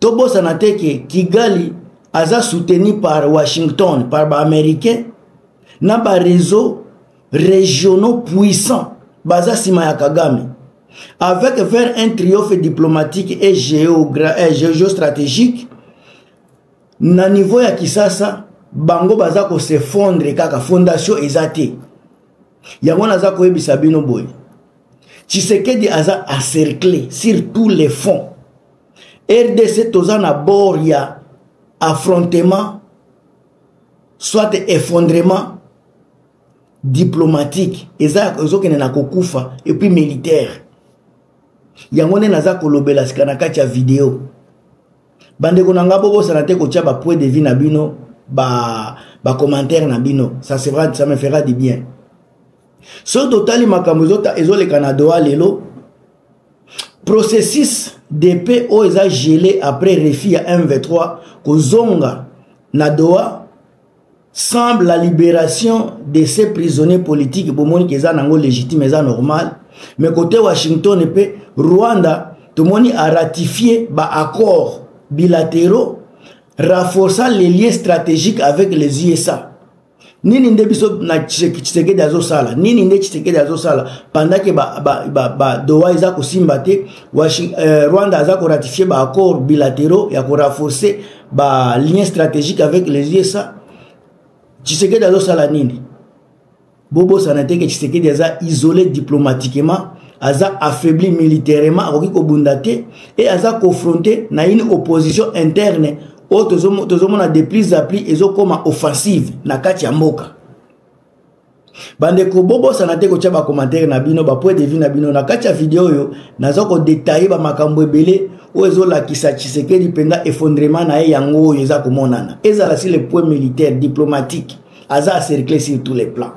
tobosana te ke kigali aza soutenu par washington par baaméricain na bareseau régionaux puissants baza nsima ya kagame avec vers un triomphe diplomatique et euh, géostratégique na niveau ya kisasa bango baza kose fondre kaka fondation eza te yango naza koyebisa bino boye tshisekedi aza encercle sur tous les fonds rdc toza na bord ya affrontement soit effondrement diplomatique eza ezokende na kokufa epuis militaire yango nde naza kolobela sika na kati ya video bandeko na nga bobosana te kotya bapoint de vie na bino bacommentaire ba na bino ça, sera, ça me fera du bien soki totali makambo ezoleka na doha lelo processus de paix oyo eza gelé après refus ya mv3 kozonga na doha semble la libération de ces prisonniers politiques bomoni ke eza nango légitime eza normal mais kote washington mpe rwanda tomoni aratifie baaccord bilatéraux renforçant les liens stratégiques avec les usa nini nde biso na tshisekedi azosala nini nde tshisekedi azosala pandake badoha ba, ba, ba, ba eza kosimba te euh, rwanda aza koratifie baaccord bilatéraux ya korenforce balien stratégique avec les usa tshisekedi azosala nini bobosana te ke tshisekedi aza isolé diplomatiquement aza affaibli militairement akoki kobunda te e aza confronte na une opposition interne oyo tozomona de plus a plus ezokoma offensive na kati ya mboka bandeko bobosana te kotya bakomantere na bino bapoint de vue na bino na kati ya video oyo naza kodetaille bamakambo ebele oyo ezolakisa tshisekedi mpenza effondrement na ye yango oyo eza komonana ezala si le point militaire diplomatique aza acercle sur tous les plans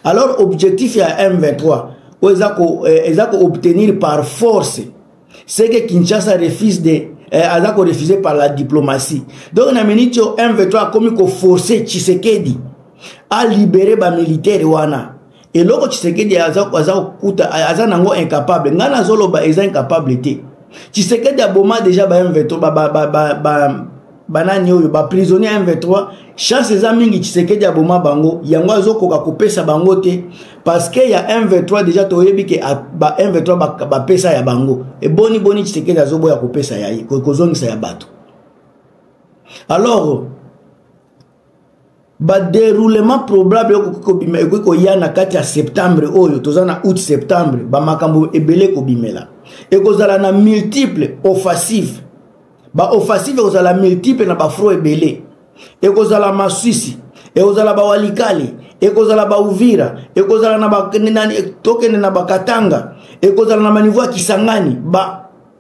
alors objectif ya m23 oyo eza ko eh, eza ko obtenir par force ce que kinshasa refuse de eh, aza ko refuser par la diplomatie donc na minute oyo m23 akomi koforce tshisekedi alibere bamilitaire wana eloko tshisekedi aza kokuta aza nango incapable ngai nazoloba eza incapable te tshisekedi aboma deja ba m23 ba, ba, ba, ba, ba banani oyo baprisonnier ya m23 chance eza mingi tshisekedi aboma bango yango azokoka kopesa bango te parceke ya m23 deja toyebi ke ba m23 bapesa ba ya bango eboni boni tshisekedi azoboya kopesa ya ye kozongisa ya bato alors baderoulement probable ekoki kobima ekoki koya na kati ya septembre oyo toza na août septembre bamakambo ebele ekobimela ekozala na multiple offensive baoffensive ekozala multiple na bafro ebele ekozala maswisi ekozala bawalikali ekozala bauvira ekozala na tokende na bakatanga ekozala na banivo ya kisangani ba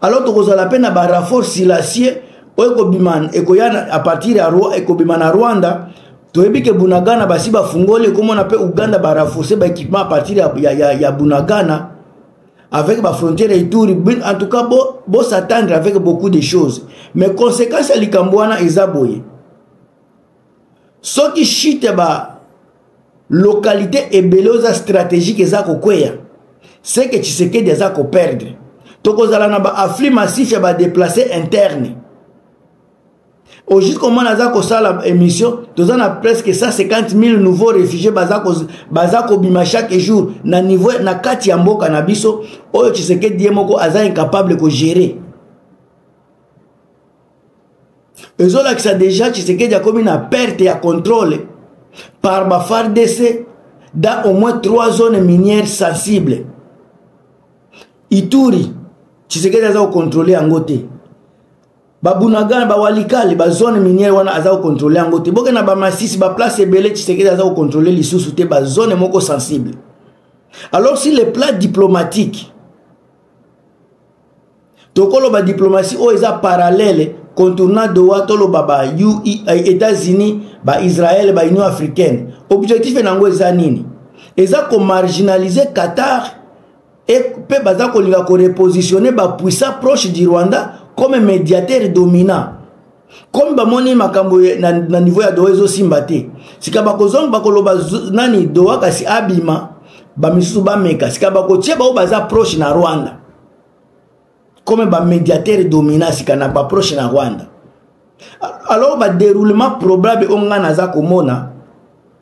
alors tokozala mpe na barafor silasie oyo ekobima ekoya a partir ya ekobima na rwanda toyebi ke bunagana basi bafungoli ekomona mpe uganda baraforce baéquipement a partir ya, ya, ya, ya bunagana avec bafrontière ituri en tout cas bosatendre bo avec beaucoup de choses mais conséquence ya likambo wana eza boye soki chute ya ba localité ebele oza stratégique eza kokweya seke tshisekedi aza koperdre tokozala na baafli massif ya badeplace interne au jusqu'au moment aza kosala émission toza na presque 150 000 nouveaux réfugiés baza, ko, baza kobima chaque jour na niveau na kati ya mboka na biso oyo tshisekedi ye moko aza incapable kogérer ezolakisa deja tshisekedi akomi na perte ya contrôle par ba fardc dans au moins trois zones minières sensibles ituri tshisekedi aza kocontrole yango te babunagana bawalikale bazone minière wana aza kocontrole yango te bokenda bamasisi baplace ebele tshisekedi aza kocontrole lisusu te bazone moko sensible alors si le plat diplomatique tokoloba diplomatie oyo eza parallele contournant doha toloba ba eh, états-unis ba israel ba union africaine objectif na yango eza nini eza komarginalize qatar mpe baza kolinga korepositionne bapuissant proche du rwanda comme médiateur dominant comme bamoni makambo na, na niveau ya doha ezosimba te sika bakozonga bakoloba nani doha kasi abima bamisusu bameka sika bakotie baoyo baza proche na rwanda comme bamediateur domina sika na baproche na rwanda alors badéroulement probable oyo ngai naza komona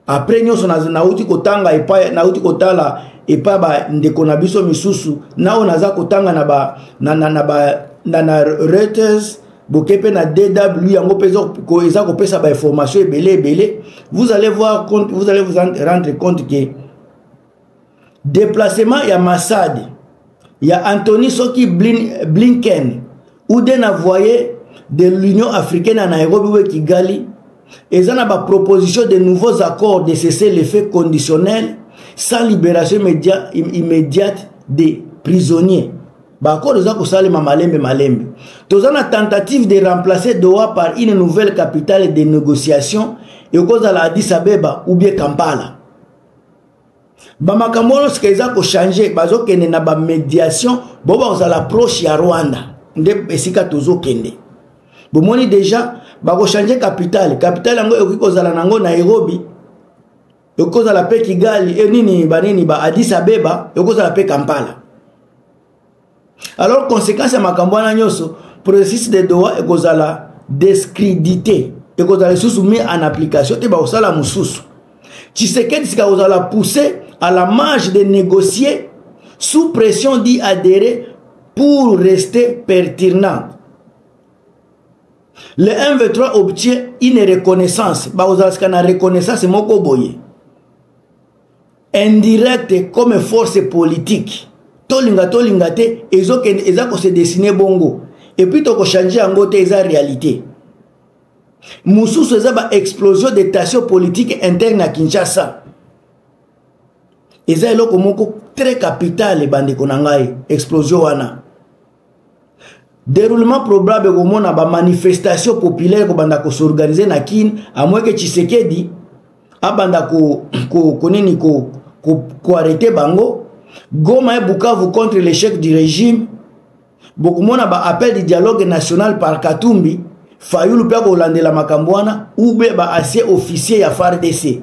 après nyonso nauti kotanga epai nauti kotala epai bandeko na biso misusu na oyo naza kotanga na ba na, na, na, ba, na, na reuters boke mpe na dw yango mpe eza kopesa bainformation ebele ebele vous allez voir compte, vous allez vous rendre compte que deplacement ya masade ya antony soki Blin, blinken ou de na voye de l'union africaine ya nairobi we kigali eza na baproposition de nouveaux accords de cesser le fait conditionnel sans libération immédiate des prisonniers baaccord eza kosalema malembe malembe toza na tentative de remplacer doha par une nouvelle capitale de négociation ekozala addis abeba ou bien kampala bamakambo wana sika eza kochange bazokende na bamédiation bo bakozala proche ya rwanda nde esika tozokende bomoni déjà bakochange capitale capitale yango ekoki kozala nango nairobi ekoki kozala mpe kigali e nini banini ba adis abeba ekoki kozala mpe kampala alors conséquence ya makambo wana nyonso processus de doha ekozala descrédité ekozala lisusu mis en application te bakosala mosusu tshisekedi sika kozala poussé à la marge de négocier sous pression d'y adhérer pour rester pertinent le mv3 obtient une reconnaissance bakozala sika na reconnaissance moko boye indirect comme force politique tolinga tolinga te ezokende eza kose dessine bongo epuis tokochange yango te eza réalité mosusu eza baexplosion de tension politique interne na kinshasa eza eloko moko très capitale bandeko na ngai explosion wana Déroulement probable komona ba manifestation populaire kobanda ko s'organiser na Kin amweke Tshisekedi abanda ko ko konini ko ko, ko arrêter bango Goma et Bukavu contre l'échec du régime bokomona ba appel du dialogue national par Katumbi Fayulu pe kolandela makambo wana ou be ba ancien officier ya FARDC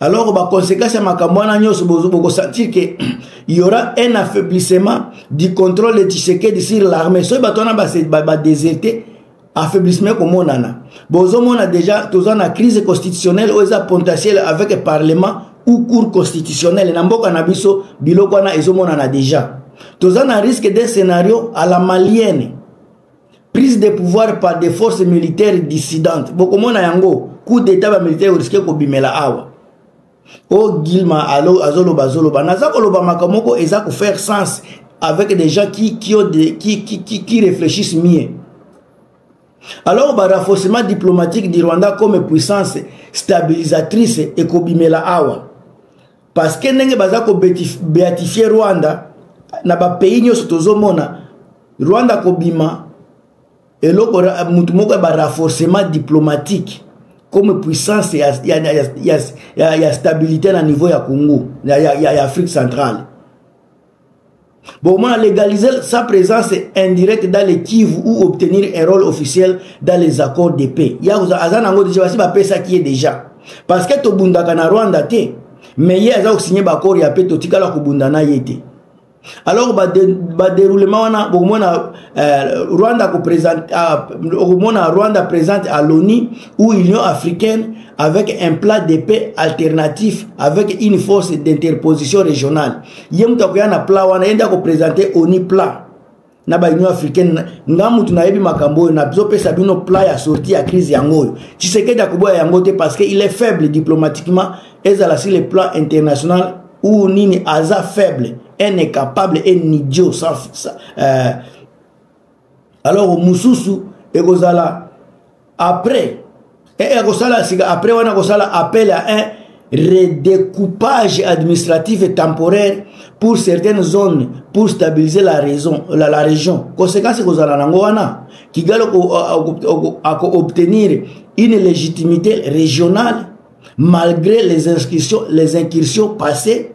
alors baconséquence ya makambo wana nyonso bokosentir ke yaura un affaiblissement du contrôle de tshisekedi sur l'armée soki bato wana badeserte affaiblissement ekomonana bozomona déjà toza na crise constitutionnelle oyo eza potentielle avec parlement ou cour constitutionnelle na mboka na biso biloko wana ezomonana déjà toza na risque de scénario à la malienne prise de pouvoir par des forces militaires dissidentes bokomona yango coup d'état bamilitaire oriske kobimela awa o oh, gilma azoloba azoloba naza koloba makambo moko eza kofaire sens avec des gens qui, qui, ont des, qui, qui, qui, qui réfléchissent mieux alors barafaussement diplomatique du rwanda comme puissance stabilisatrice ekobimela awa parce que ndenge baza ko beatifier Rwanda na ba pays nyoso tozomona Rwanda kobima eloko mutu moko ya ba renforcement diplomatique comme puissance ya, ya, ya, ya, ya, ya stabilité na niveau ya Congo ya, ya, ya Afrique centrale Bomona légaliser sa présence indirecte dans les Kivu ou obtenir un rôle officiel dans les accords de paix. Yakuza azana ngo déjà basi ba pesa qui est déjà. Parce que to bundaka na Rwanda te, mais ye aza signer ba accord ya paix to tikala ko bunda na yete. Alors ba de, ba déroulement wana bomona euh, Rwanda ko présente bomona euh, Rwanda présente à l'ONU ou Union africaine avec un plan de paix alternatif avec une force d'interposition régionale. ye moto akoya na plat wana ye nde akopresente oni plat na baunion africaine nga motu nayebi makambo oyo nazopesa bino plat ya sorti ya crise yango oyo tshisekedi akoboya yango te parce que il est faible diplomatiquement ezala sur le plan international ou nini aza faible un incapable un idiot sans, sans, euh, alors mosusu ekozala après e eh, akosala eh, sika après wana akosala appel à un redécoupage administratif et temporaire pour certaines zones pour stabiliser la, raison, la, la région conséquence ekozala nango wana kigali akoobtenir une légitimité régionale malgré les inscriptions, les incursions passées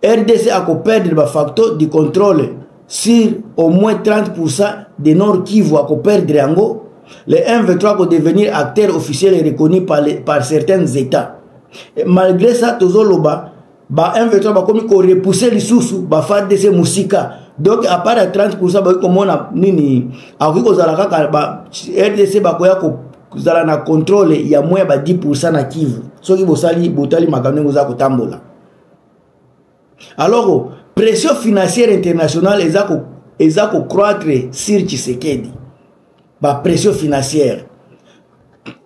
rdc akoperdre bafacto du contrôle sur au moins 30% de nord kivu akoperdre yango le mv3 akodevenir acteur officiel et reconnu par, les, par certains états et malgré ça tozoloba ba mv3 bakomi korepousse lisusu bafardc mosika donc à part ya 30 bakoki komona nini akoki kozala kaka ba rdc bakoya kozala na contrôle ya moins ya ba 10 na kivu soki bosali botali makambo ndenge oza kotambola alors pression financière internationale eza ko eza ko croître sur Tshisekedi ba pression financière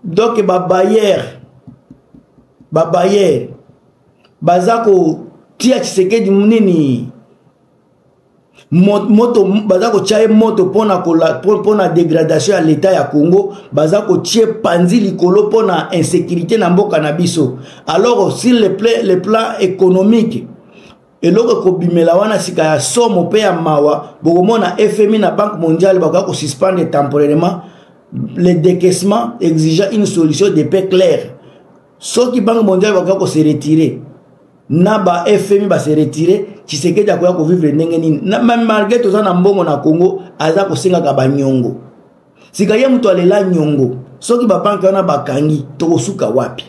donc ba bailleur ba bailleur baza ko tia Tshisekedi nini moto baza kotya ye moto mpona dégradation ya l'état ya congo baza kotye panzi likolo mpona insécurité na mboka na biso alors sur le plan, le plan économique eloko ekobimela wana sika ya somo mpe ya mawa bokomona fmi na banque mondiale bakoya kosuspendre temporairement le décaissement exigeant une solution de paix claire soki banque mondiale bakoya ko se retirer na ba fmi ba se retirer tshisekedi akoya kovivre ndenge nini malgre toza na mbongo na congo aza kosengaka banyongo sika ye moto alela nyongo soki babanke wana bakangi tokosuka wapi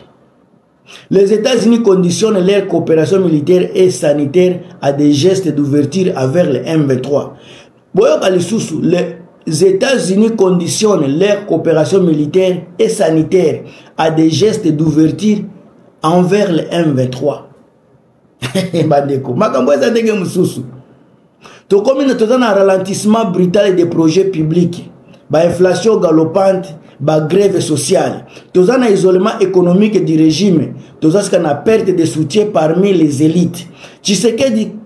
Les États-Unis conditionnent leur coopération militaire et sanitaire à des gestes d'ouverture envers le M23. boyoka lisusu les états-unis conditionnent leur coopération militaire et sanitaire à des gestes d'ouverture envers le m23 bandeko makambo eza ndenge mosusu tokomi na toza na ralentissement brutal et des projets publics bainflation galopante bagrève sociale toza na isolement économique du régime toza sika na perte de soutien parmi les élites tshisekedi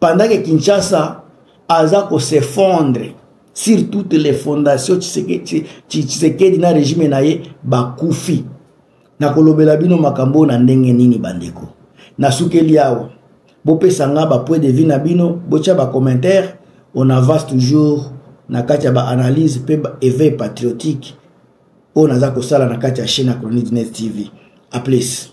pendant que kinshasa aza kosefondre sur toutes les fondations tshisekedi na regime na ye bakufi nakolobela bino makambo oyo na ndenge nini bandeko nasukeli awa bopesa nga bapoint de vie na bino botya bacommentaire on avance toujours na kati ya baanalyse mpe éveil patriotique oyo naza kosala na kati ya chaîne ya chronique net tv a plus